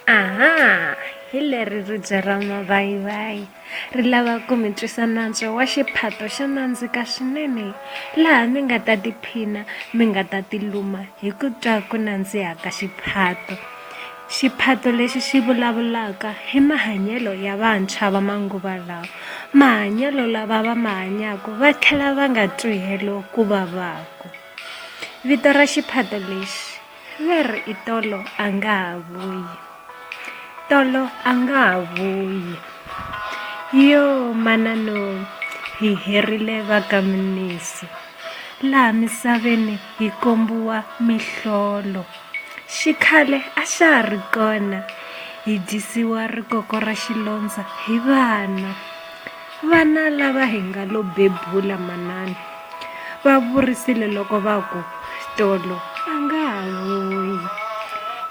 aha hi leri ribye ra mavayivayi ri lava ku mi twisa nantswo wa xiphato xo nandzika swinene laha mi nga ta tiphina mi nga ta tiluma hi ku twa ku nandziha ka xiphato xiphato lexi xi vulavulaka hi mahanyelo ya vantshwa va manguva lawa mahanyelo lava va ma hanyaka va tlhela va nga twihelo ku vavaka vito ra xiphato lexi Va ri i tolo a nga ha vuyi tolo a nga ha vuyi yo manano hi herile va ka Mnisi laha misaveni hi kombiwa mihlolo xikhale a xa ha ri kona hi dyisiwa rikoko ra xilondza hi vana Vana lava hi nga lo bebula manana va vurisile loko va ku, Tolo a nga ha vuyi.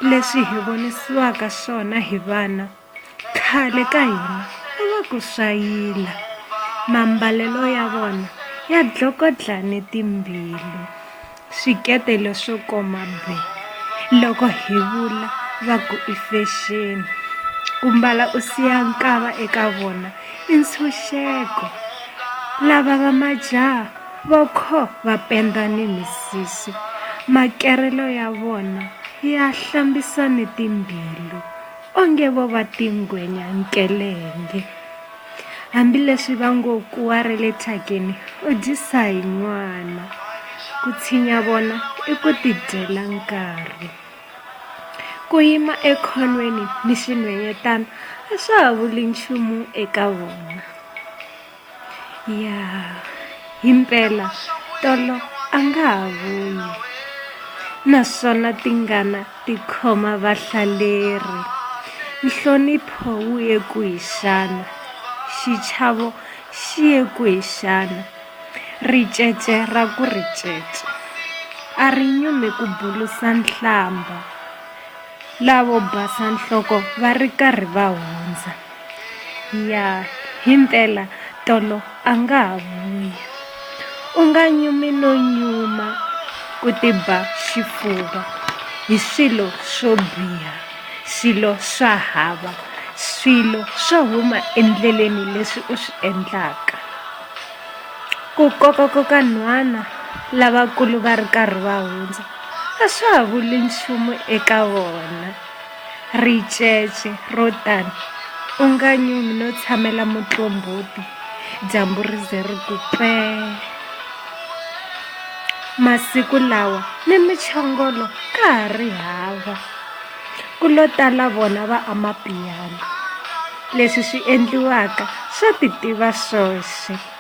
Leswi hi vonisiwaka swona hi vana khale ka hina a va ku swa yila. Mambalelo ya vona ya dlokodlane timbilu. Swikete leswo koma be. Loko hi vula va ku i fexeni, ku mbala u siya nkava eka vona i ntshunxeko. Lava va majaha vo kho va penda ni misisi, makerelo ya vona ya hlambisa ni timbilu, onge vo va tingwenya nkelenge. Hambileswi va ngo ku wa ra le thyakeni u dyisa hi n'wana, ku tshinya vona i ku tidyela nkarhi. Ku yima ekhonweni ni xinhwenyetana a swa ha vuli nchumu eka vona. Ya himpela tolo a nga ha vuyi naswona tingana. Tikhoma vahlaleri. Nhlonipho wu ye kwihi xana? Xichavo xi ye kwihi xana? Ricece ra ku ricece a ri nyumi ku bulusa nhlambha. Lavo basa nhloko va ri karhi va hundza. Ya, himpela tolo a nga ha vuyi. U nga nyumi no nyuma ku tiba xifuva hi swilo swo biha, swilo swa hava, swilo swo huma endleleni leswi u swi endlaka. Ku kokakoka nhwana lavakulu va ri karhi va hundza a swa ha vuli nchumu eka vona. Ricece ro tano, u nga nyumi no tshamela mutlomboto dyambu ri ze ri ku pee! Masiku lawa ni michongolo ka ha ri hava, ku lo tala vona va Amapiano. Leswi swi endliwaka swa titiva swoxe.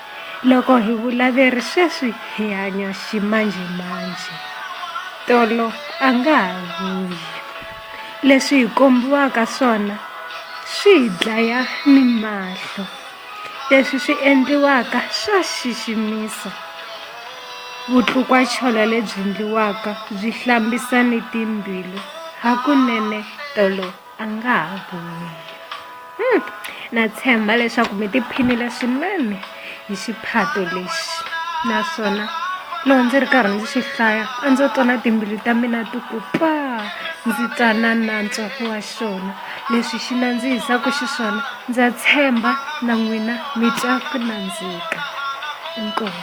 Loko hi vulaveri sweswi hi hanya ximanjhemanjhe, tolo a nga ha vuyi. Leswi hi kombiwaka swona swi hi dlaya ni mahlo. Leswi swi endliwaka swa xiximisa. Vutlukwa-cholo lebyi ndliwaka byi hlambisa ni timbilu. Hakunene tolo. a nga ha boli hmm. na tshemba leswaku mi tiphinile swinene hi xiphato lexi naswona loko ndzi ri karhi ndzi xi hlaya a ndzo twa na timbilu ta mina ti ku paa ndzi twa na nantswa wa xona leswi xi nandzihisaka xiswona ndza tshemba na n'wina mi twa ku nandzika inkomu